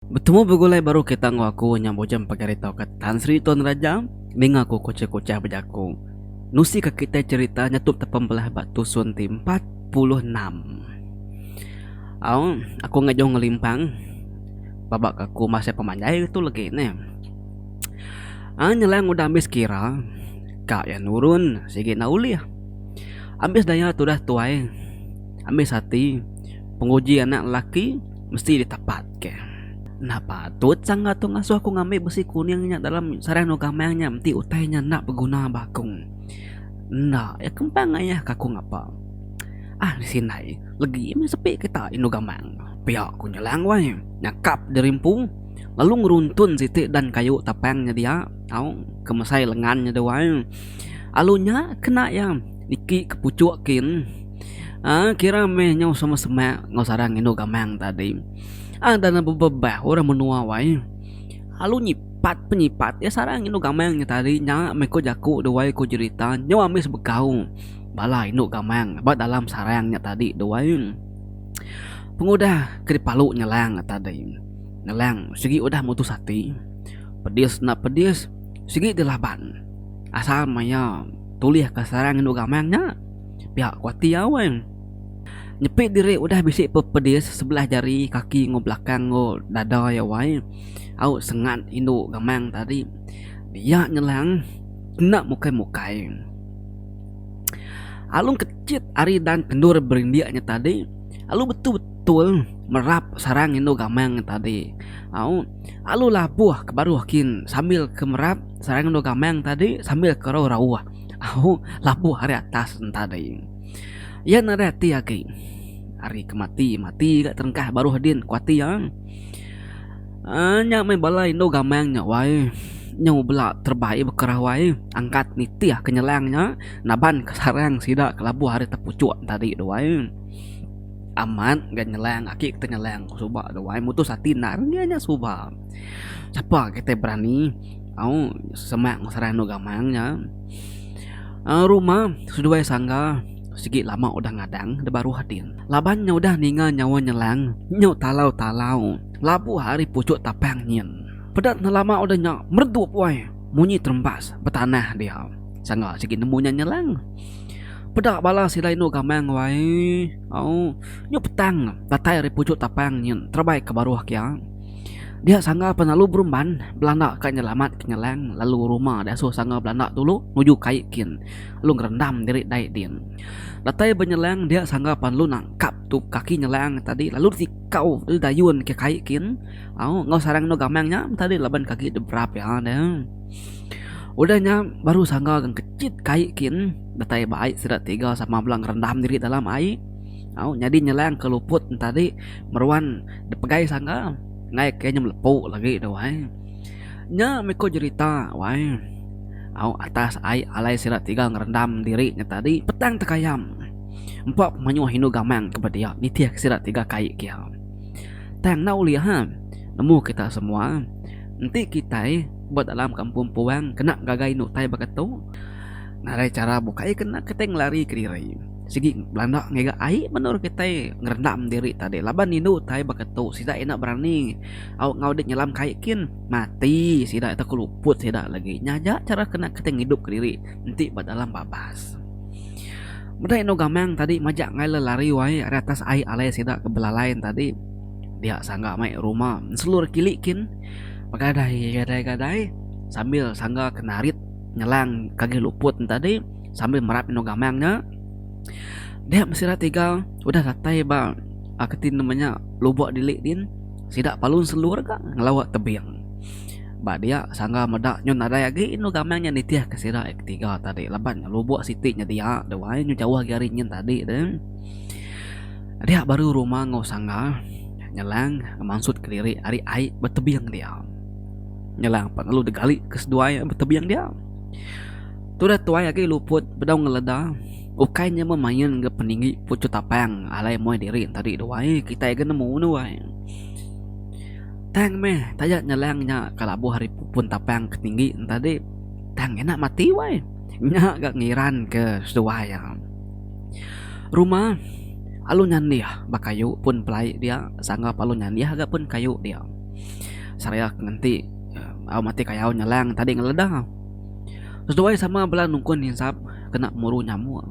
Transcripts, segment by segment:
Betemu begulai baru kita enggau aku nya Bujang Pegari tauka Tan Sri Tuan Raja ninga ku kuchah-kuchah bejaku. Nusi ka kitai cherita nya tu tepembelah ba tusun ti empat puluh enam. Au, aku enggau jauh ngelimpang baba ka aku masai pemanjai tu legi neh. Ai nyelang udah ambis kira ka iya nurun sigi enda ulih. Ambis daya tudah tuai, ambis ati penguji anak lelaki. mesti ditapatka. Enda patut sangga tu ngasuh aku ngambi besi kuning nya dalam sarang dua gamang nya enti utai nya enda beguna ba aku. Enda, iya kempang ngayahka aku ngapa. Ah bisi indai, legi meh sepi kita indu gamang. Pia ku Nyelang wai, nyakap dirimpu lalu ngeruntun siti dan kayu tapang nya dia tau ke mesai lengan nya dua. Alu nya kena iya niki ke puchuk kin. Haa kira meh nyau sama semak enggau sara ngindu gamang tadi. Ada ne bebebah orang menua wai lalu nyipat penyipat iya sara ngindu gamang nya tadi nya meh ku jaku duai ku jerita nyau ami sebegau bala indu gamang ba dalam sarang nya tadi duai. Pengudah ke dipalu nyelang ne tadi nyelang sigi udah mutus ati pedis enda pedis sigi dilaban asal maya tulihka sarang indu gamang nya. Pia ku ati iya wan. Nyepi diri udah bisi pepedis sebelah jari kaki enggau belakang enggau dada iya wai au sengat indu gamang tadi. Iya nyelang enda mukai mukai. Alu kecit ari dan kendur berindik nya tadi alu betul betul merap sarang indu gamang nya tadi au alu labuh ke baruh kin sambil ke merap sarang indu gamang tadi sambil ke rauh rauh. Au, labuh ari atas enta dei. Iya nadai ati agi. Ari ke mati, mati ga terengkah baruh din ku ati iya. Aaa, nya meh bala indu gamang nya wai. Nyu bela terebai baka rawai angkat nitih ke nyelang nya naban ke sarang sida ke labuh ari tepuchuk tadi tu wai. Amat ga nyelang aki ke tenyelang suba tu wai mutus ati endar iya nya suba. Sapa kitai berani. Au semak serang anu gamang nya. Au rumah seduai sangga sigi lama udah ngadang da baruh ading. Laban nya udah ninga nyawa nyelang nyu talau-talau labuh ari puchuk tapang nyin. Peda ne lama udah nya meredup wai munyi terembas betanah dia. Sangga sigi nemu nya nyelang. Peda bala sila inu gamang wai au nyu petang datai ari puchuk tapang nyin terebai ke baruh kia. Dia sangga penalu berumban belanda ka nyelamat ke Nyelang lalu rumah dia asuh sangga belanda dulu nuju kai kin lalu ngerendam diri dai din. Datai ba Nyelang dia sangga penalu nangkap tu kaki Nyelang tadi lalu ditikau lalu dayun ke kai kin au enggau sarang endu gamang nya tadi laban ke agi debrap iya deh. Udah nya baru sangga ngechit kai kin datai ba ai sida tiga sama bala ngerendam diri dalam ai au nyadi Nyelang ke luput ntadi meruan. Dipegai sangga enggai ke nyem lepu lagi tu ai. Nya meh ko jerita wai. Au atas ai alai sida tiga ngerendam diri nya tadi petang tekayam. Empa pemayuh indu gamang ke bedia nitih sida tiga kai kia. Tang enda ulih ha nemu kita semua enti kitai ba dalam kampung puang kena ngagai indu tai baka tu ngagai chara bukai kena kitai ngelari kediri. Sigi belanda ngiga ai menur kitai ngerendam diri tadi laban indu tai baka tu sida enda berani au ngau dek nyelam kai kin mati sida tau keluput sida lagi nya aja chara kena kitai ngidup ke diri enti ba dalam babas. Meda indu gamang tadi majak ngai le lari wai ari atas ai alai sida ke belalai tadi dia sangga mai ruma selur kili kin begadai gadai gadai sambil sangga ke narit nyelang ke agi luput tadi. sambil merap eno gamang nya dia mesti ira tiga udah datai ba uh, keti nama nya lubuk dilik din sida palun selur ga ngelawa tebing ba dia sangga meda nyu nadai agi eno gamang nya nitih ke sida yang ketiga tadi laban lubuk siti nya dia da wai nyu jauh agi ari nyin tadi de dia baru rumah ngau sangga nyelang mansut kediri ari ai betebing dia nyelang pa lalu digali ke seduai betebing dia Tudah tuai agi luput bedau ngeleda ukai nya meh main enggau peninggi puchu tapang alai muai diri enti adi dua ai kitai agi nemu nuai tang meh taja nyelang nya ka labuh ari pun tapang ke tinggi enti adi tang ina mati wai nya ga ngiran ke seduai iya rumah alu nyanih ba kayu pun pelai dia sangga pa alu nyanih ga pun kayu dia seraya ke ngenti au mati kayau nyelang enti adi ngeleda. Seduai sama bela nungkun ninsap kena muru nyamuk.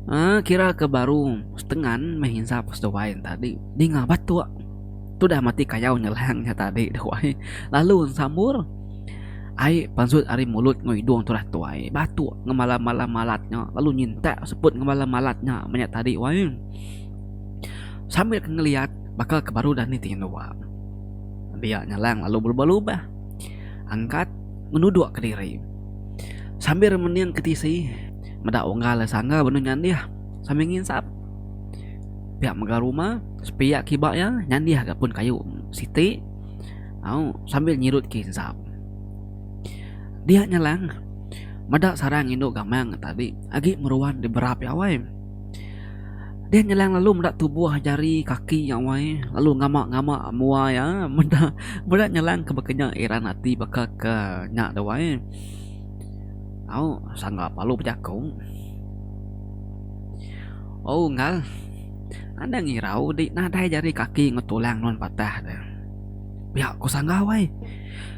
Uh, kira ke baru setengan meh insap seduai tadi. Dinga batuk. Tudah mati kayau nyelang nya tadi duai. Lalu sambur. Ai pansut ari mulut ngau idung tudah tuai. Batuk ngemala mala malat nya. Lalu nyintak seput ngemala malat nya menya tadi wai. Sambil ngeliat baka ke baru dah ni ti nua. Dia nyelang lalu belubah-lubah. Angkat ngenuduk kediri. Sambil remening ke tisi meda unggal iya sangga benung nyandih sambil nginsap. Pia mega rumah sepia kiba iya nyandih ga pun kayu siti au sambil nyirut ke insap. Dia nyelang meda sarang indu gamang tadi agi meruan diberap iya awai. Deh Nyelang lalu meda tubuh jari kaki iya wai lalu ngama ngama mua iya meda meda Nyelang ke baka nya eran ati baka ke nya da wai au sangga palu bejaku au ngal anang irau ti nadai jari kaki enggau tulang nuan patah deh pia ku sangga wai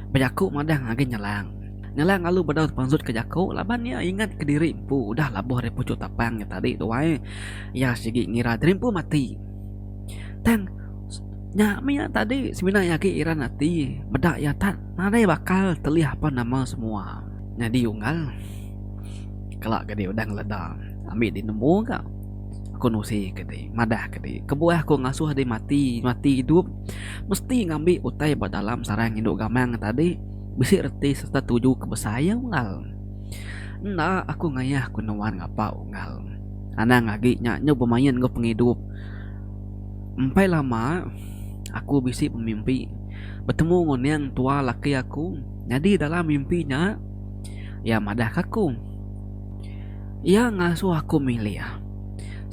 bejaku madah agi Nyelang. Ngelang alu bedau tepansut ke jaku laban iya ingat kediri empu udah labuh ari puchuk tapang nya tadi tuai. Iya sigi ngira diri empu mati. Tang, nya mih tadi semina iya agi iran ati meda iya tak nadai bakal telih apan nama semua. Nyadi unggal, kala ke dih udah ngeleda ambi dih nemu ga aku nusi ke dih madah ke dih kebuah aku ngasuh dih mati mati idup mesti ngambi utai ba dalam sarang indu gamang tadi. bisi reti sereta tuju ke besai iya unggal. Enda aku ngayah ku nuan ngapa unggal. Anang agi nya nyau bemain enggau pengidup. Empai lama aku bisi bemimpi betemu enggau Neng entua laki aku nyadi dalam mimpi nya iya madah ke aku. Iya ngasuh aku milih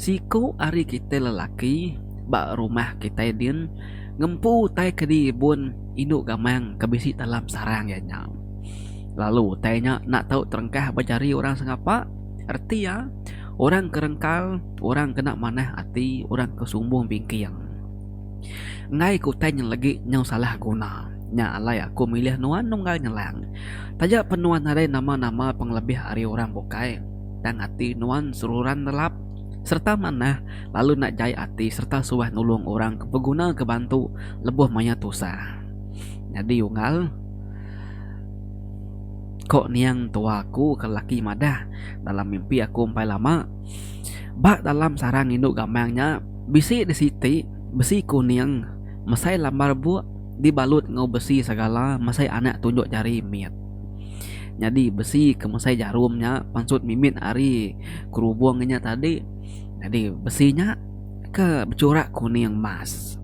siku ari kitai lelaki ba rumah kitai din ngempu utai ke di ibun. Indu gamang ke bisi dalam sarang iya nya. Lalu utai nya enda tau terengkah ba jari orang sengapa. Reti iya, orang ke rengkal, orang ke enda manah ati, orang ke sumbung bingking. Enggai ke utai nya legi nyau salah guna. Nya alai aku milih nuan nunggal nyelang. Taja pen nuan nadai nama-nama pengelebih ari orang bukai, tang ati nuan seruran relap. sereta manah lalu enda jai ati sereta suah nulung orang ke beguna ke bantu lebuh maya tusah. Nyadi unggal, ko niang tua aku ke laki madah dalam mimpi aku empai lama, ba dalam sarang indu gamang nya bisi di siti besi kuning mesai lambar buk dibalut enggau besi segala mesai anak tunjuk jari mit. Nyadi besi ke mesai jarum nya pansut mimit ari kerubung inya tadi. Nyadi besi nya ke bechurak kuning emas.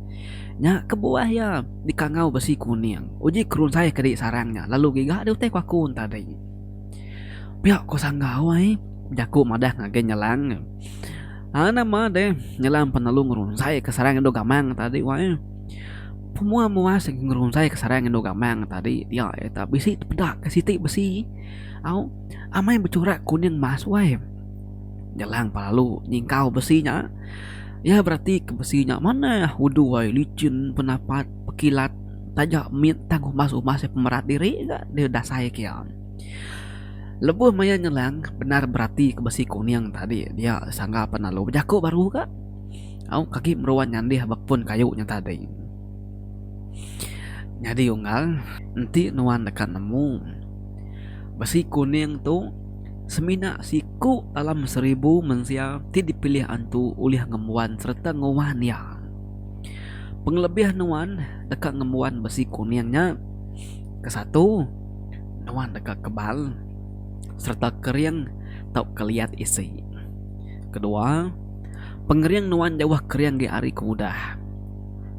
Nya kebuah iya dikangau besi kuning. Uji kerunsai kadi sarang nya lalu giga diutai ku aku tadi. Pia ku sanggau ai jaku madah ngagai nyelang nya. Nama deh nyelang penelu ngerunsaika sarang indu gamang tadi wai. Pemua-mua sigi ngerunzai ke sarai endu gamang tadi dia iya tau bisi tepeda ke siti besi au amai bechurak kuning emas wai jelang pa lalu nyingkau besi nya iya berati ke besi nya manah udu ai lichin penapat pekilat taja mit tang umas-umas iya pemerat diri ga deh dasai ke iya. Lebuh maya nyelang bendar berati ke besi kuning tadi dia sangga pa lalu bejaku baru ga. Auk agi meruan nyandih ba pun kayu nya tadi. Nyadi unggal, enti nuan deka nemu, besi kuning tu semina siku dalam seribu mensia ti dipilih antu ulih ngembuan sereta nguan iya. Pengelebih nuan deka ngembuan besi kuning nya, kesatu, nuan deka kebal sereta kering tauka liat isi. Kedua, Pengering nuan jauh kering di hari ke udah.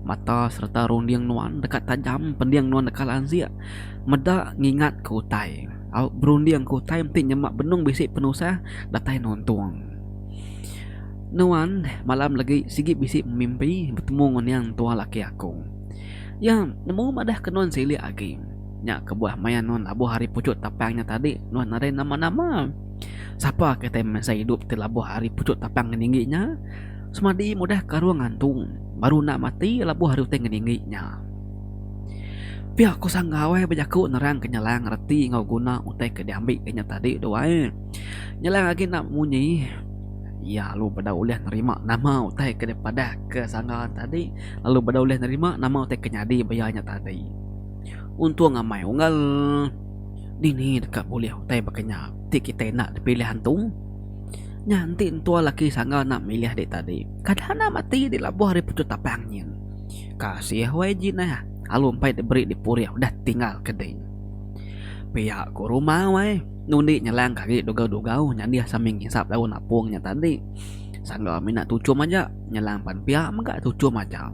Mata sereta runding nuan deka tajam pending nuan deka lanjik meda ngingatka utai au berundingka utai enti nyema benung bisi penusah datai nuntung. Nuan malam legi sigi bisi memimpi betemu ngan Yang Entua Laki Aku. Iya nemu madahka nuan silik agi. Nya kebuah maya nuan labuh ari puchuk tapang nya tadi nuan nadai nama-nama. Sapa ke tai mensai idup ti labuh ari puchuk tapang ngeninggi nya? Semadi mudah ke arung ngantung, baru enda mati labuh ari utai ngeninggi nya. Pia ko Sanggau ai bejaku nerangka Nyelang reti enggau guna utai ke diambika nya tadi tu ai. Nyelang agi enda munyi, iya lalu beda ulih nerima nama utai ke dipadahka Sanggau tadi lalu beda ulih nerima nama utai ke nyadi ba iya nya tadi. Untung amai unggal. Dini deka bulih utai baka nya ti kitai enda dipilih antu? Nya enti entua laki sangga enda milih dek tadi, kada enda mati dek labuh ari pucuk tapang nyin. Kasih YG neh, alu empai diberi dipurih udah tinggal ke dek. Pia ku rumah wai, nundi nyelang ke agi dugau-dugau nyadih sambil ngisap daun apung nya tadi. Sangga mina tuchum aja, nyelang pan pia mega tuchum aja.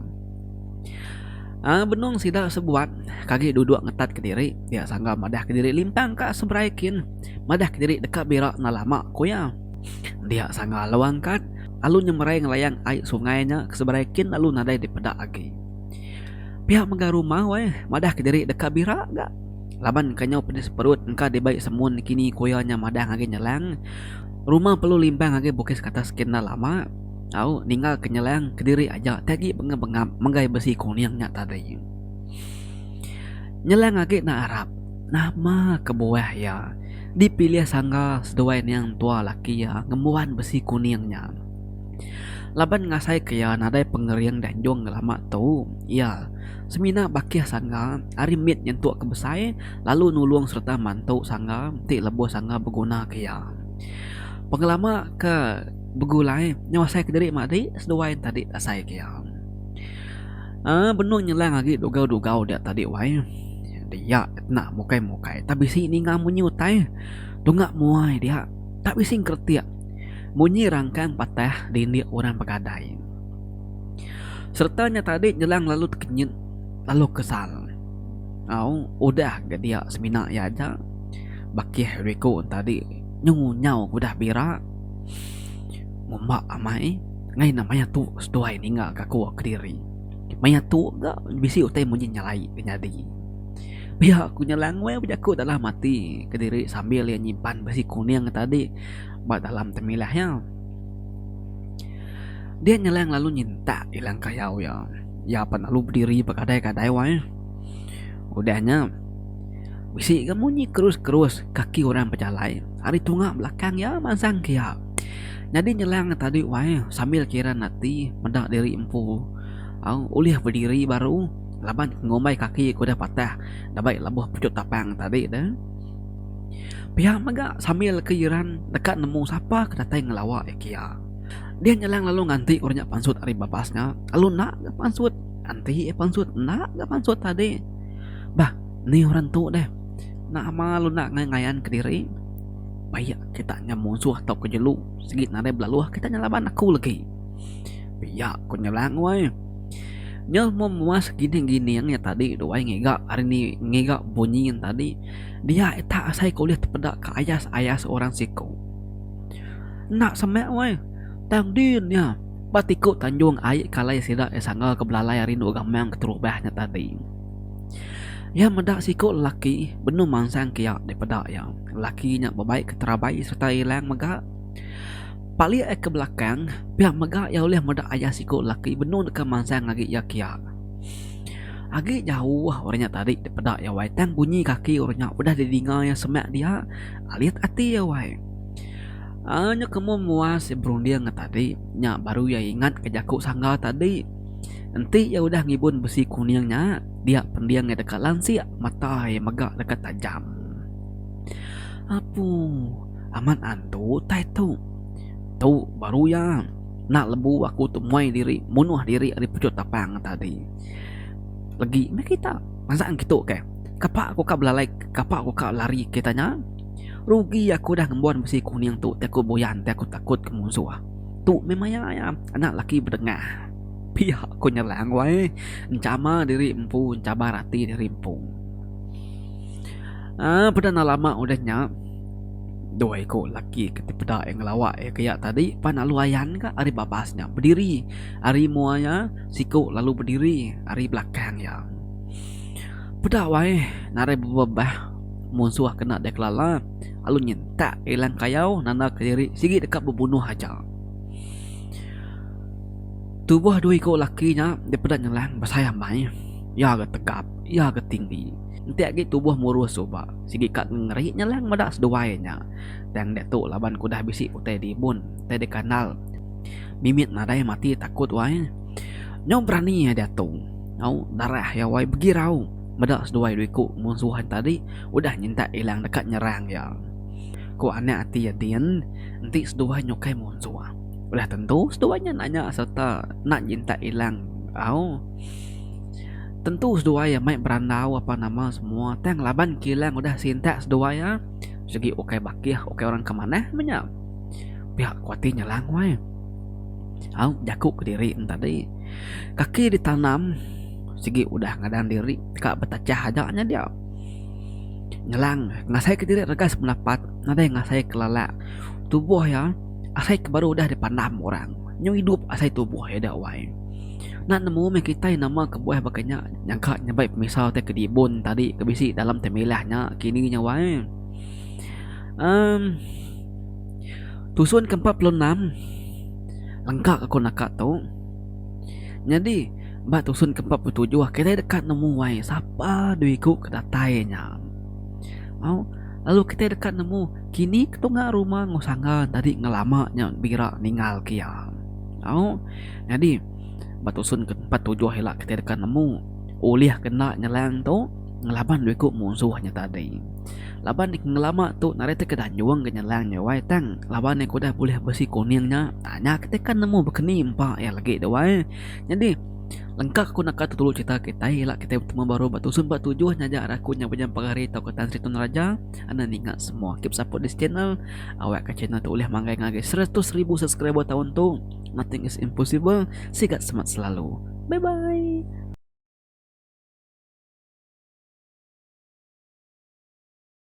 Aa benung sida sebuat kagi duduk ngetat kediri dia sangga madah kediri limpang ka seberai kin madah kediri deka bira enggau lama ku iya. Dia sangga lalu angkat lalu nyemerai ngelayang ai sungai nya ke seberai kin lalu nadai dipeda agi. Pia mega rumah weh madah kediri deka bira ga laban ka nyau pedis perut engka dibai semun kini ku iya nya madah agi nyelang rumah perlu limpang agi bukis ke atas kin enda lama. Au ninggal ke nyelang kediri aja ti agi bengap-bengap menggai besi kuning nya tadi. Nyelang agi enda arap nama kebuah iya dipilih sangga seduai niang tua laki iya ngembuan besi kuning nya. Laban ngasai ke iya nadai pengering di anjung lama tu, iya semina bakih sangga ari mit nyentuk ke besai lalu nulung sereta mantu sangga ti lebuh sangga beguna ke iya. Pengelama ke. begulai nyawasaika diri mah adi seduai enti adi asai ke am um benung nyelang agi dugau-dugau dia tadi wai enti iya kena mukai-mukai tak bisi ninga munyi utai tunga muai dia tak bisi ngeretik munyi rangkang patah di indi orang begadai sereta nya tadi nyelang lalu tekenyit lalu kesal au udah ga dia semina iya aja bakih riku enti adi nyungunyau ke udah bira. Ngumba amai ngai ne maya tu seduai ninga ka ku kediri maya tu ga bisi utai munyi nyalai ke nyadi. Pia ku nya langoi bejaku dalam ati kediri sambil iya nyimpan bisi kuning ti tadi ba dalam temilah iya. Dia nyelai lalu nyintak ilang kayau iya. Iya pan lalu bediri bekadai-kadai wai. Udah nya bisi ga munyi kerus-kerus kaki orang bejalai. ari tunga belakang iya mansang ke iya. Nyadi nyelang nya tadi wai sambil kiran ati meda diri empu au ulih bediri baru laban ngumbai kaki ku deh patah dabai lebuh pejok tapang tadi de. Pia mega sambil kiran deka nemu sapa ke datai ngelawa iya ke iya. Deh nyelang lalu nganti orang nya pansut ari babas nya lalu enda ga pansut anti pansut enda ga pansut tadi. Bah ni orang tu deh. Nama lu enda ngaya ngayanka diri pia kita nya musuh atau ke jelu sigi nadai belaluh kita nya laban aku legi pia ku nya lang weh nyuh mung muas gining gining nya tadi tu ai ngiga hari ni ngiga bunyi nya tadi dia ita asai ke ulih tepeda ke ayas ayas orang siko enda seme weh tang din nya ba ti ku tanjung ai kalai sida ke sanga ke belalai ari endu gaman keterubah nya tadi. Iya meda siku lelaki benung mansang ke iya dek peda iya. Lelaki nya bebai ke terabai sereta ilang mega. Palik iya ke belakang, pia mega iya ulih meda ayah siku lelaki benung deka mansang agi iya kia. Agi jauh orang nya tadi dek peda iya wai tang bunyi kaki orang nya udah didinga iya semak dia alit ati iya wai. Aaa nyuk ke umum muas iya berunding ngan tadi nya baru iya ingat ke jaku sangga tadi. Enti iya udah ngibun besi kuning nya, dia pending iya deka lansik matai mega deka tajam. Apu, amat antu utai tu. Tu baru iya. Enda lebu aku tu muai diri munuh diri ari puchut tapang tadi. Legi meh kita. Naza ngitu ke. Kapa aku ka belalai kapa aku ka lari kita nya. Rugi aku udah ngembon besi kuning tu ti aku buyan ti aku takut ke munsuh. Tu meh maya iya anak laki bedengah. Pia ku Nyerang wai enchama diri empu enchabar ati diri empu. Aaa peda enda lama udah nya dua iku laki ke ti peda iya ngelawa iya ke iya tadi pan lalu ayan ka ari babas nya bediri ari mua iya siku lalu bediri ari belakang iya. Peda wai narai bebebah munsuh ke enda dikelela. lalu nyentak Ilang Kayau nanda kediri sigi deka bebunuh aja. Tubuh dua iku laki nya dipeda nyelang besai amai, iya ga tegap, iya ga tinggi. Enti agi tubuh murus suba, sigi ka ngeri nyelang meda seduai nya. Tang diatu laban ke udah bisi utai dibun, utai dikandal, mimit nadai mati takut wai. Nyau berani iya diatu. Au darah iya wai begirau. Meda seduai dua iku munsuh ai tadi udah nyintak Ilang deka nyerang iya. Ku anak ati iya din, enti seduai nya ukai munsuh, udah tentu seduai nya nanya sereta enda nyintak Ilang au. Tentu seduai iya mai berandau apan nama semua tang laban ke Ilang udah sintak seduai iya sigi ukai bakih ukai orang ke manah meh nya. Pia ku ati nya langoi. Au jaku kediri ne tadi. Kaki ditanam. sigi udah ngadang diri ka betachah aja nya dia. Ngelang ngasai ke diri regas pendapat nadai ngasai ke lala tubuh iya asai ke baru udah dipandam orang nyau idup asai tubuh iya da wai. Enda nemu meh kitai nama kebuah baka nya nyangka nyambai pemisa utai kedibun tadi ke bisi dalam temilah nya kini nya wai. Um tusun ke empat puluh enam lengka aku naka tu nyadi Ba tusun ke empat puluh tujuh kitai deka nemu wai sapa dui ku ke datai nya. Au lalu kitai deka nemu kini ketunga rumah enggau sangga tadi ngelama nya bira ninggal ke iya. Au nyadi ba tusun ke empat puluh tujuh ila kitai deka nemu ulih ke enda nyelang tu ngelaban dui ku musuh nya tadi. Laban ngelama tu nadai ti ke danjung ke nyelang nya wai tang laban iya ke udah bulih besi kuning nya nya kitai ke nemu bekeni empa iya lagi duai. Nyadi, lengka aku naka tu tulu cerita kitai ila kitai betemu baru ba Tusun ba tujuh nya aja raku nya Bujang Pagari tauka Tan Sri Tun Raja enda ninga semua. Keep support this channel. Awak ka channel tu ulih manggai ngagai seratus ribu subscriber taun tu. Nothing is impossible. Sigat semat selalu. Bye bye.